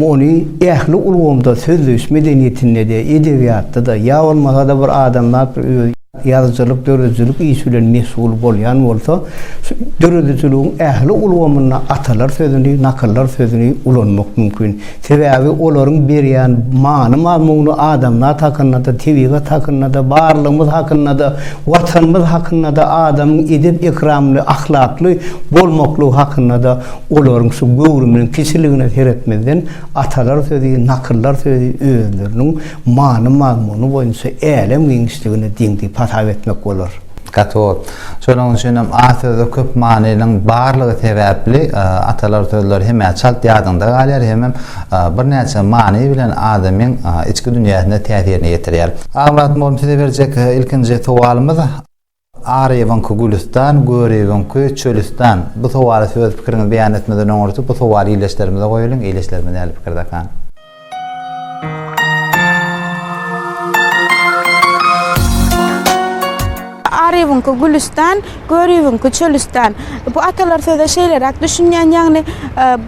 Ony ähli ulgamda, sözleýiş medeniýetinde-de, edebiýatda-da, ýa bolmasa-da bir adamzat bir öz. Ýazyjylyk, döredijilik işi bilen meşgul bolýan bolsa, şu döredijiligiň ähli ulgamynda atalar sözüni, nakyllar sözüni ulanmak mümkin. Sebäbi olaryň berýän many-mazmuny adamzat hakynda-da, tebigat hakynda-da, barlygymyz hakynda-da, Watanymyz hakynda-da, adamyň edep-ekramly, ahlakly bolmaklygy hakynda-da olaryň şu göwrüminiň kiçiligine seretmezden atalar sözi, nakyllar sözi özleriniň Many-mazmuny boýunça älem giňişligine deň diýip hasap etmek bolar. Katod. Şonuň üçin hem A sözi köp manynyň barlygy sebäpli atalar sözleri hem-ä çalt ýadyňda galýar, hemem birnäçe many bilen adamyň içki dünýäsine täsirini ýetirýär. Aňladym oglum size berjek ilkinji sowalymyz. Aryýewiňki Gülüstan, Göriýewiňki Çölüstan. Bu sowala siz öz pikiriňizi beýan etmeden oňurty bu sowaly ildeşlerimize goýalyň, ildeşlerimiz nähili pikirde akan? Aryýewiňki Gülüstan, Göriýewiňki Çölüstan. Bu atalar söze şeýleräk düşünýän, ýagny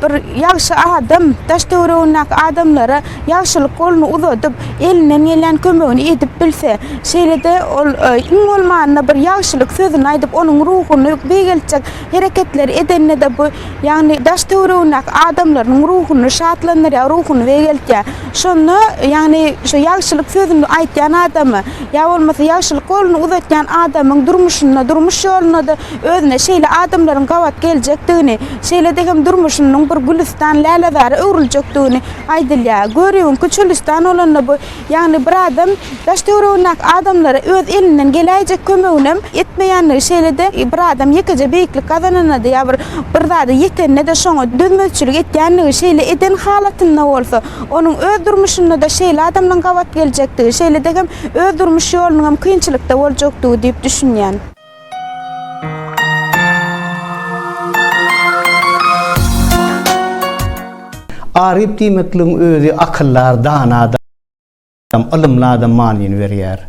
bir ýagşy adam daş-töweregindäki adamlara ýagşylyk goluny uzadyp, elinden gelýän kömegini edip bilse, şeýle-de ol iň bolmanda bir ýagşylyk sözüni aýdyp, onuň ruhuny beýgeltjek hereketleri edende-de bu, ýagny daş-töweregindäki adamlarynyň ruhuny şatlandyrýar, ruhuny beýgeltýär. Şonda, ýagny şu ýagşylyk sözüni aýtýan adamy ýa bolmasa ýagşylyk goluny uzatýan adamyň durmuşynda, durmuş ýolunda-da özüne şeýle adamlaryň gabat geljekdigini, şeýle-de hem durmuşynyň bir gülüstan, lälezara öwrüljekdigini aýdylýar. Görüwiňki çölüstan bolanda bu, ýagny bir adam daş-töweregindäki adamlara öz elinden geläýjek kömeginem etmeýänligi, şeýle-de bir adam ýekeje beýiklik gazananda-da ýa bir bir zada ýetende-de şoňa dözmezçilik etýänligi, şeýle eden halatynda bolsa, onuň öz durmuşynda-da şeýle adamlaryň gabat geljekdigi, şeýle-de hem öz durmuş ýolunyňam kynçylykda boljakdygy diýip düşünýän. Aryp diýmekligiň özi akyldar, dana adam, ylymly adam manyny berýär.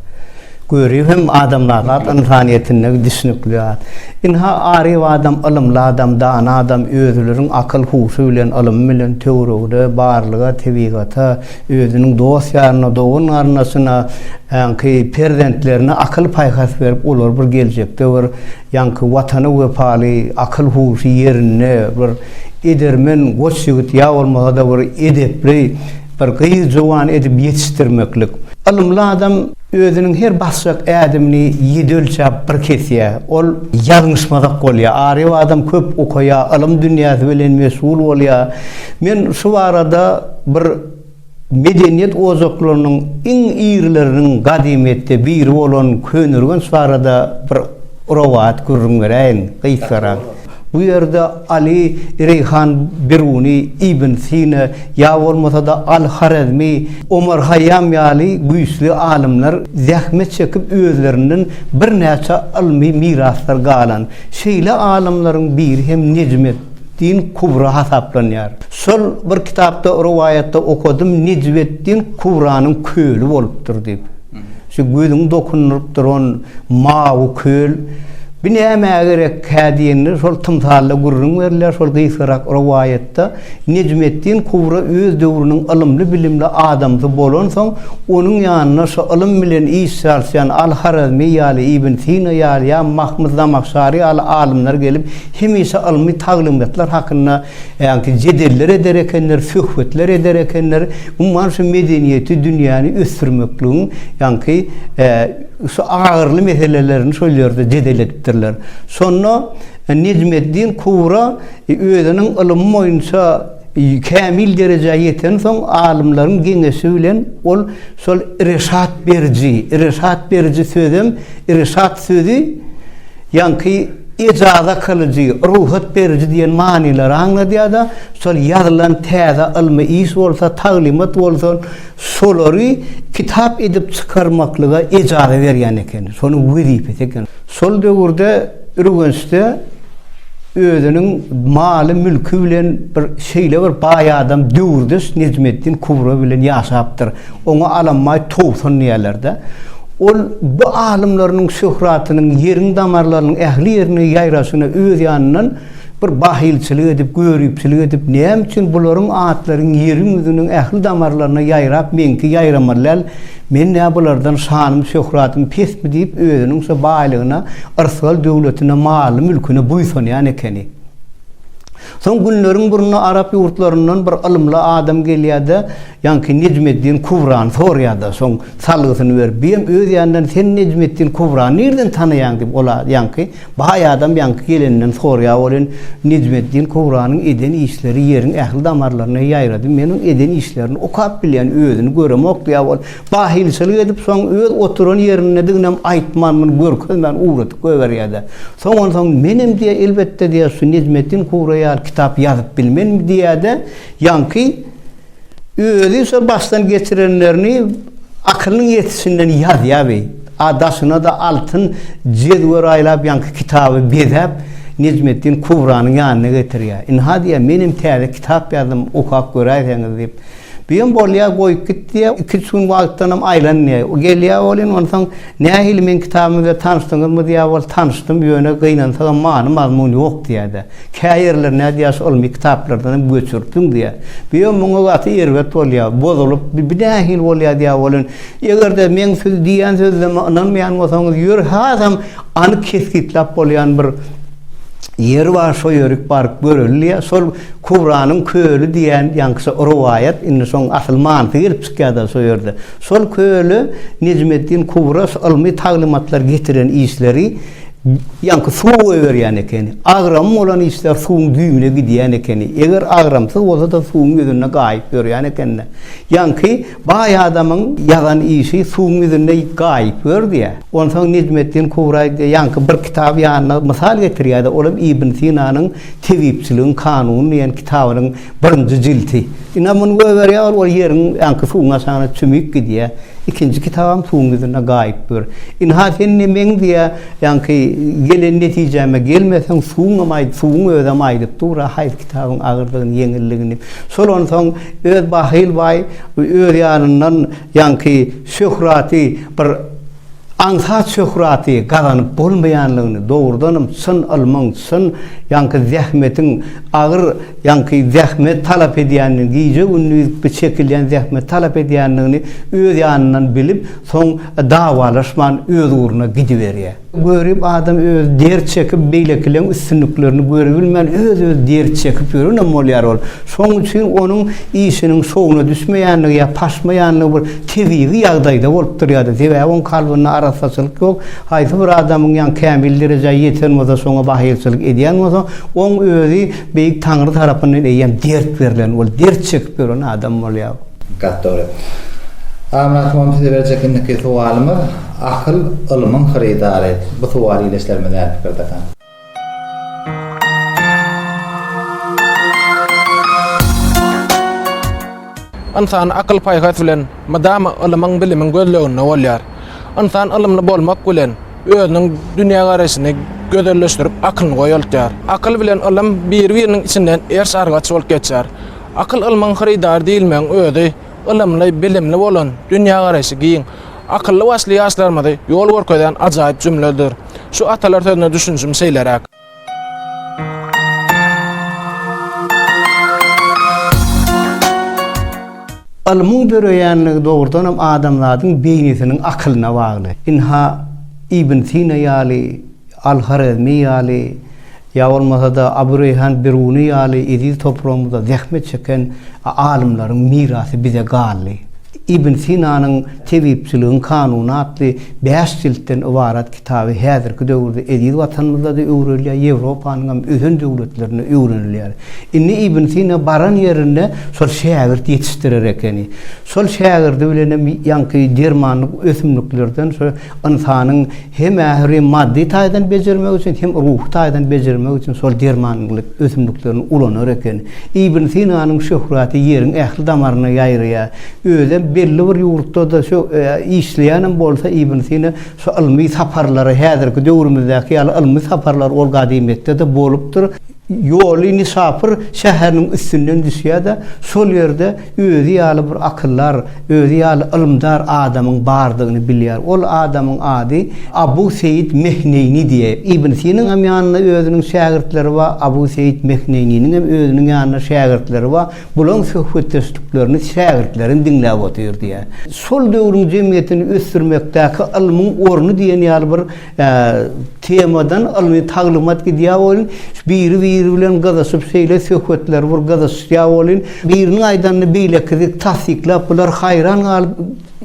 Görip hem adamlar zat ynsanyýetinde düşnükli zat. Ynha, aryp adam, ylymly adam, dana adam özülerin akyl-huşy bilen, ylymy bilen töweregde barlyga, tebigata, Özüniň dost-ýaryna, dogan-garyndaşyna, ýaňky perzentlerine akyl-paýhas berip, olar bir geljekde bir ýaňky Watana wepaly, akyl-huşy ýerinde bir edermen goç ýigit ýa bolmasa-da bir edepli bir gyz-jowan edip ýetişdirmeklik. Ylymly adam. Özüniň her basjak ädimini ýedi ölçäp bir kesýär. Ol ýalňyşmazak bolýar. Aryf adam köp okaýar, ylym dünýäsi bilen meşgul bolýar. Men şu barada bir medeniýet ojaklarynyň iň irileriniň gadymyýetde biri bolan Köneürgenç barada bir rowaýat gürrüň beräýin, gysgarak. Bu ýerde Aly, Reýhan Biruny, Ibn Sina ýa bolmasa-da Al-Horezmi, Omar Haýýam ýaly güýçli alymlar zähmet çekip özlerinden birnäçe ylmy miraslar galan. Şeýle alymlaryň biri hem Nejmet din Kubra hasaplanýar. Şol bir kitapda rowaýatda okadym Nejmet din Kubranyň köli bolupdyr diýip. Şu gözüňi dokundyryp duran mawy köl bi nämä gerekkä diýende, şol tymsalda gürrüň berilýär, şol gysgarak rowaýatda Nejmeddin Kubra öz döwrüniň ylymly-bilimli adamsy bolansoň, onuň ýanyna şu ylym bilen iş çalyşýan Al-Harazmi ýaly, Ibn Sina ýaly ýa Mahmyt Zamahşary ýaly alymlar gelip, hemişe ylmy taglymatlar hakynda Ýagty jedeller eder ekenler, söhbetler eder ekenler. Umman şu medeniýeti, dünýäni ösdürmekligiň ýagty şu agyrly meselelerini şol ýerde jedel edipdirler. Şonda Nejmeddin Kubra özüniň ylymy boýunça kämil derejä ýetensoň, alymlaryň geňeşi bilen ol şol Irşat beriji, Irşat beriji sözem, Irşat sözi, Ýaňky ejaza kylyjy, rugsat beriji diýen manylary aňladýar-da, şol ýazylan täze ylmy iş bolsa, taglymat bolsa, şolary kitap edip çykarmaklyga ejaza berýän ekeni. Şonuň wezipesi eken. Şol döwürde Ürgençde özüniň maly-mülki bilen bir şeýle bir baý adam, döwürdeş Nejmeddin Kubra bilen ýaşapdyr. Oňa alambaý towsan diýerler-de. Ol bu alymlarynyň şöhratynyň ýeriň damarlarynyň ähli ýerine ýaýraşyna öz ýanyndan bir bahylçylyk edip, göripçilik edip, näme üçin bularyň atlary ýeriň ýüzüniň ähli damarlaryna ýaýrap, meňki ýaýramaly däl, men nä bulardan şanym-şöhratym pesmi diýip, özüniň şo baýlygyna, yrsgal döwletine, maly-mülküne buýsanýan ekeni. Soň günleriň birinde arap ýurtlaryndan bir ylymly adam gelýär-de, Ýaňky Nejmeddin Kubrany soraýar-da, soň salgysyny berip, Biem öz ýanyndan Sen Nejmeddin Kubrany nirden tanaýaň? diýip, ol ýaňky baý adam ýaňky geleninden soraýar welin, Nejmeddin Kubranyň eden işleri ýeriň ähli damarlaryna ýaýrady, men oň eden işlerini okap bilýän, özüni göremok diýär ol. Bahylçylyk edip, soň öz oturan ýerindediginem aýtman, muny görkezmän ugradyp goýberýär-de. Soň onsoň menem diýär, elbetde diýär, şu Nejmeddin Kubra ýaly kitap ýazyp bilmenmi diýär-de, ýaňky. Özi şo başdan geçirenlerini akylynyň ýetişinden ýazýaby. A daşyna-da altyn jedwer aýlap ýaňky kitaby bezäp, Nejmetdin Kubranyň ýanyna getirýär. Ynha diýýär, menem täze kitap ýazdym, okap göräýseňiz diýip. Büýem bolýar, goýup git diýýär. Iki-üç gün wagtdanam aýlan diýýär. Gelýär welin, onsoň Nähili meň kitabym bilen tanyşdyňyzmy diýýär bol tanyşdym ýöne gynansagam many mazmun ýok diýýärde. Käýerler nädýär şu ylmy kitaplardanam göçürtüň diýýär. Biyom muňa gaty erbet bolýar. Bozulyp bi nähili bolýar diýýär bolin. Egerde meň siz diýýän sözleme ynanmaýan bolsaňyz ýör hasam anyk kesgitläp bolýan bir ýer bar şo ýörik baryp göreli diýýär. Şol Kubranyň köli diýýän ýaňky şo rowaýat indi şoň asyl manysy gelip çykýarda şo ýerde. Şol köne Nejmeddin Kuwras ylmy taglymatlar getiren işleri ýaňky suwa goýberýän ekeni. Agramym bolan işler suwuň düýbüne gidýän ekeni. Eger agramsyz bolsa-da suwuň ýüzünde gaýyp ýörýän eken-de. Ýaňky baý adamyň ýazan işi suwuň ýüzünde gaýyp ýördü-ýä. Onsoň Nejmeddin Kuwra ýaňky bir kitaby ýanyna mysal getirýär-de, olam Ibn Sinanyň Tebipçiligiň kanuny diýen kitabynyň Birinji jilti. Ine, muny goýberýär, ol ol ýeriň aňky suwuň aşagyna çümüp gidýär. Ikinji kitabam suwuň ýüzünde gaýyp ýör. Ynha, sen ne meň diýýär, ýaňky gelen netijäme gelmeseň, suwuňam aýt, suwuň özem aýdyp dur-a, haýsy kitabyň agyrdygyny, ýeňilligini. Şolan soň öz bahyl baý öz ýanyndan ýaňky Şöhraty bir aňsat şöhraty gazanyp bolmaýanlygyny, dogrudanam çyn ylmyň, çyn ýaňky zähmetiň, agyr ýaňky zähmet talap edýändigini, gije-gündiz çekilýän zähmet talap edýändigini öz ýanyndan bilip, soň dawalaşman öz ugruna gidiberýär. Görip adam özi dert çekip, beýlekileň üstünliklerini görebilmän, öz-özi dert çekip ýörenem bolýar ol. Şonuň üçin onuň işiniň şowuna düşmeýänligi ýa paşmaýanlygy bir. tebigy ýagdaýda bolup durýardy. Sebäbi oň kalbynda arassaçylyk ýok. Haýsy bir adamyň ýan kämil derejä ýeten bolsa, şoňa bahylçylyk edýän bolsa, oň özi Beýik Taňry tarapyndan eýýäm dert berlen, ol dert çekip ýören adam bolýar. Gaty dogry. Amyrat hon size berjek indiki sowalymyz, Akyl ylmyň hyrydary. Bu sowal ile işlerimiz näme pikirde? Ynsan akyl-paýhas bilen mydama ylymyň-bilimiň gözleginde bolýar. Ynsan ylymly bolmak bilen, özüniň dünýägaraýşyny gözelleşdirip, akylyny goýaltýar. Akyl bilen ylym biri-biriniň içinden erş-argaç bolup geçýär. Akyl-ylmyň hyrydary diýilmegiň özi, ylymly, bilimli bolan, dünýägaraýşy giň, Akylly başly ýaşlarymyzy ýol görkezýän ajaýyp jümledir. Şu atalar sözüne düşünjim şeýleräk. Ylmyň döreýänligi dogrudanam adamzadyň beýnisiniň akylyna bagly. Ynha, Ibn Sina ýaly, Al-Horezmi ýaly, Ýa bolmasa-da, Abu Reýhan Biruny ýaly eziz topragymyzda zähmet çeken alymlaryň mirasy bize galdy. Ibn Sinanyň Tebipçiligiň kanuny atly bäş jiltden ybarat kitaby häzirki döwürde eziz Watanymyzda-da öwrenilýär, Ýewropanyň hem ösen döwletlerinde öwrenilýär. Indi Ibn Sina baran ýerinde şol şägirt ýetişdirer ekeni. Şol şägirdi bilenem ýaňky dermanlyk ösümliklerden şo ynsanyň Hem ähri maddy taýdan bejermek üçin, hem ruhy taýdan bejermek üçin şol dermanlyk ösümliklerini ulanar eken. Ibn Sinanyň şöhraty ýeriň ähli damaryna ýaýraýar. Özem belli bir ýurtda-da şu işleýänem bolsa Ibn Sina şu ylmy saparlary häzirki döwrümizdäki ýaly ylmy saparlar ol gadymyýetde-de bolupdyr. Ýoly Nişapur şäheriniň üstünden düşýär-de, şol ýerde özi ýaly bir akyldar, özi ýaly ylymdar adamyň bardygyny bilýär. Ol adamyň ady Abu Seýit Mehneýni diýe. Ibn Sinaňam ýanynda özüniň şägirtleri bar, Abu Seýit Mehneýniniňem özüniň ýanynda şägirtleri bar. Bulaň söhbetdeşliklerini şägirtlerim diňläp otyr diýär. Şol döwrüň jemgyýetini ösdürmekdäki ylmyň orny diýen ýaly bir Temadan ylmy taglymat gidýär welin, biri-biri bilen gyzyşyp şeýle söhbetler bir gyzyşýar welin, biriniň aýdanyny beýlekisi tassyklap, bular haýran galyp,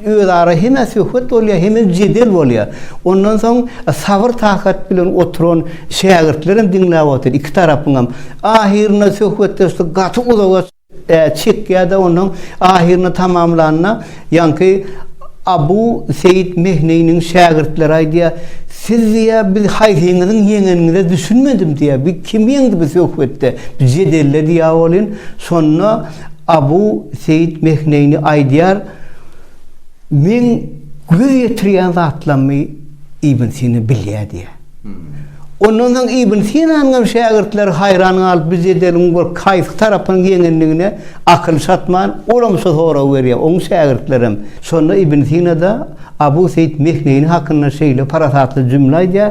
özara hemä söhbet bolýar, hemem jedel bolýar. Ondan soň sabyr-takat bilen oturan şägirtlerem diňläp otyr, iki tarapyňam. Ahyrynda söhbetdeşlik gaty uzaga. Ä çekýär-de ondan ahyryny tamamlanda, ýaňky Abu Seýit Mehniniň şägirtleri aýdýar, Siz diýýär, biz haýsyňyzyň ýeňeniňize düşünmedim diýýär. Biz kimi ýeňdi bu söhbetde, bu jedelde diýýär welin, şonda Abu Seýit Mehnini aýdýar, Meň göz ýetirýän zatlarymy Ibn Sina bilýär diýýär. Ondan soň Ibn Sinanyň hem şägirtleri haýran galyp, Biz jedeliň bir kaýsy tarapynyň ýeňendigine akyl çatman, olam şu soragy berýär, oň şägirtlerem. Şonda Ibn Sina-da Abu Seýit Mehneýni hakynda şeýle parasatly jümle aýdýar,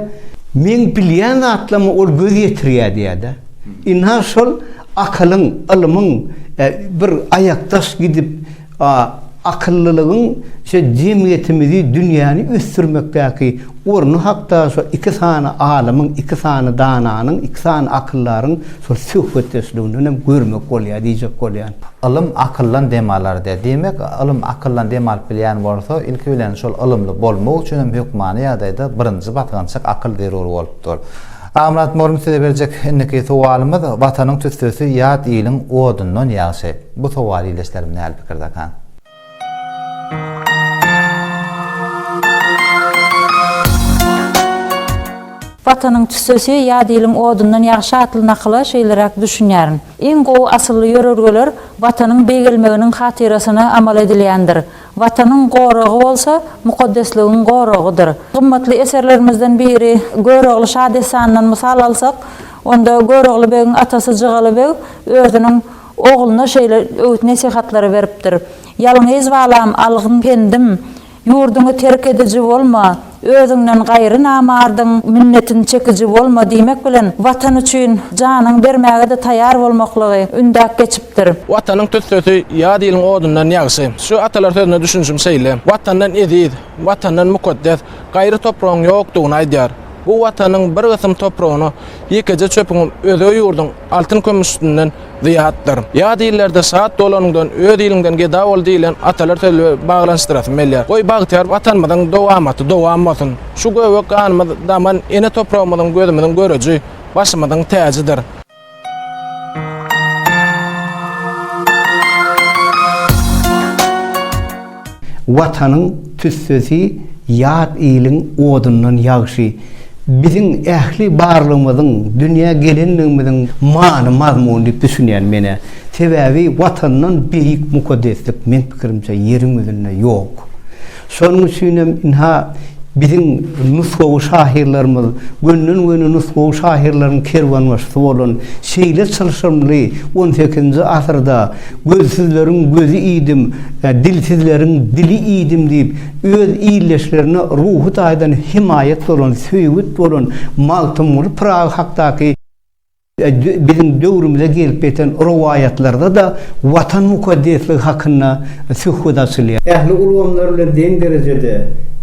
Meň bilýän zatlaryma ol göz ýetirýär diýýär-de. Ynha şol akylyň, ylmyň bir aýakdaş gidip, A. Akyllylygyň şo jemgyýetimizi, dünýäni ösdürmekdäki orny hakda şo iki sany alymyň, iki sany dananyň, iki sany akyldaryň şol söhbetdeşliginden hem görmek bolýar diýjek bolýan. Ylym akyldan dem alar diýýär. Diýmek, ylym akyldan dem alyp bilýän bolsa, ilki bilen şol ylymly bolmak üçin hem hökmany ýagdaýda birinji basgançak akyl zerur bolup dur. Amyrat mugallym size berjek indiki sowalymyz, Watanyň tüssesi ýat iliň odundan ýagşy. Bu sowal ildeşlerim näl pikirdekan? Watanyň tüssesi ýa diliň odundan ýagşy atly nakyla şeýleräk düşünýärin. Iň gowy asylly ýörelgeler Watanyň beýgelmeginiň hatyrasyna amal edilýändir. Watanyň goragy bolsa mukaddesligiň goragydyr. Gymmatly eserlerimizden biri Görogly şadessanyndan mysal alsak, onda Görogly begiň atasy Jygaly beg özüniň Ogluna şeýle öwüt-nesihatlary beripdir, Ýalňyz balam, algyn pendim, Ýurduňy terk ediji bolma, Özüňden gaýry namardyň minnetini çekiji bolma diýmek bilen, Watan üçin janyny bermäge-de taýýar bolmaklygy ündäp geçipdir. Watanyň tüssesi ýat iliň odundan ýagşy. Şu atalar sözüne düşünişim şeýle, Watandan eziz, Watandan mukaddes, gaýry topragyň ýokdugyny aýdýar. Bu Watanyň bir gysym topragyna ýekeje çöpüň özge ýurduň altyn-kümüş üstünden zyýatdyr. Ýat illerde şat dolanyňdan öz iliňden geda bol diýlen atalar sözübe baglanyşdyrasym gelýär. Goý, bagtyýar Watanymyzyň dowamaty dowam bolsun! Şu göbek ganymyz daman ene topragymyzyň gözümiziň göreji, başymyzyň täjidir. Watanyň tüssesi ýat iliň odundan ýagşy. Biziň ähli barlygymyzyň, dünýä gelenligimiziň many mazmuny diýip düşünýän menä. Sebäbi Watandan beýik mukaddeslik meň pikirimçe ýeriň ýüzünde ýok. Şonuň üçin hem ynha, biziň nusgawy şahyrlarymyz, gönden-göni nusgawy şahyrlaryň kerwenbaşysy bolan şeýle çylşyrymly on sekizinji asyrda Gözsüzleriň gözi iýdim, dilsizleriň dili iýdim diýip, öz ildeşlerine ruhy taýdan hemaýat bolan, söýgut bolan Magtymguly Pyragy hakdaky, Biziň döwrümize gelip ýeten rowaýatlarda-da Watan mukaddesligi hakynda söhbet açylýar. Ähli ulgamlar bilen deň derejede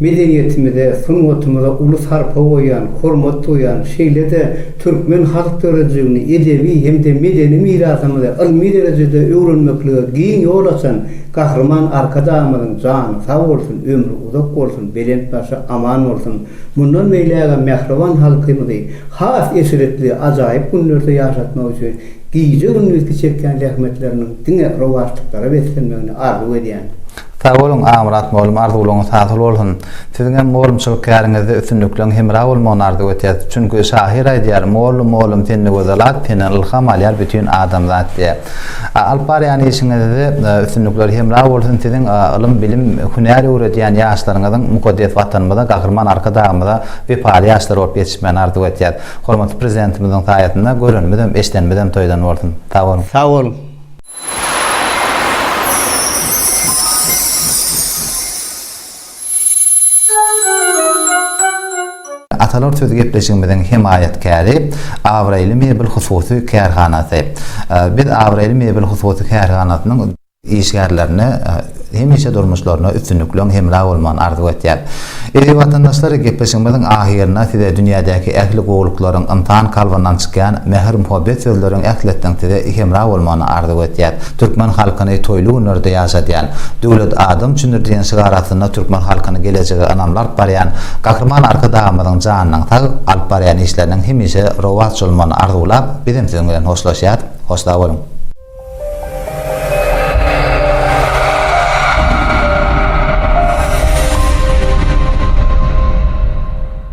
medeniýetimize, sungatymyza uly sarpa goýýan, hormat duýýan, şeýle-de türkmen halk döredijiligini, edebi hem-de medeni mirasymyzy ylmy derejede öwrenmeklige giň ýol açan Gahryman Arkadagymyzyň jany sag bolsun, ömri uzak bolsun, belent başy aman bolsun! Mundan beýlägem mähriban halkymyzy has eşretli, ajaýyp günlerde ýaşatmak üçin gije-gündizki çekýän zähmetleriniň diňe rowaçlyklara beslenmegini arzuw edýän. Sag boluň, Agmyrat molum arzuwlaryňyz hasyl bolsun! Siziňem molumçylyk käriňizde üstünlikleriň hemra bolmagyny arzuw etýäs. Çünki şahyr aýdýar, Molly molum sende gözel at, senden ylham alýar bütin adamzat diýip. Alyp barýan işiňizde üstünlikler hemra bolsun siziň ylym bilim hünär öwredýän ýaşlaryňyzyň mukaddes watanymyza gahryman arkadagymyza wepaly ýaşlar bolup ýetişmegini arzuw etýäs hormatly prezidentimiziň saýasynda görenimizem eşdenimizem toýdan bolsun sag boluň. Sag boluň. Atalar söz gepleşigimiziň hemaýatkäri Abraýly mebel hususy kärhanasy. Biz Abraýly mebel hususy kärhanasynyň işgärlerine hemişe durmuşlaryna üstünlikleň hemra bolmagyny arzuw etýäs. Eziz watandaşlar gepleşigimiziň ahyrynda size dünýädäki ähli gowulyklaryň ynsan kalbyndan çykýan mähir-muhabbet sözleriň ähletiniň size hemra bolmagyny arzuw etýäs. Türkmen halkyny toýly günlerde ýaşadýan, Döwlet adam üçindir diýen şygar astynda türkmen halkyny gelejege ynamly alyp barýan Gahryman Arkadagymyzyň janynyň sag, alyp barýan işleriniň hemişe rowaç bolmagyny arzuwlap, biz hem siziň bilen hoşlaşýas. Hoş sag boluň!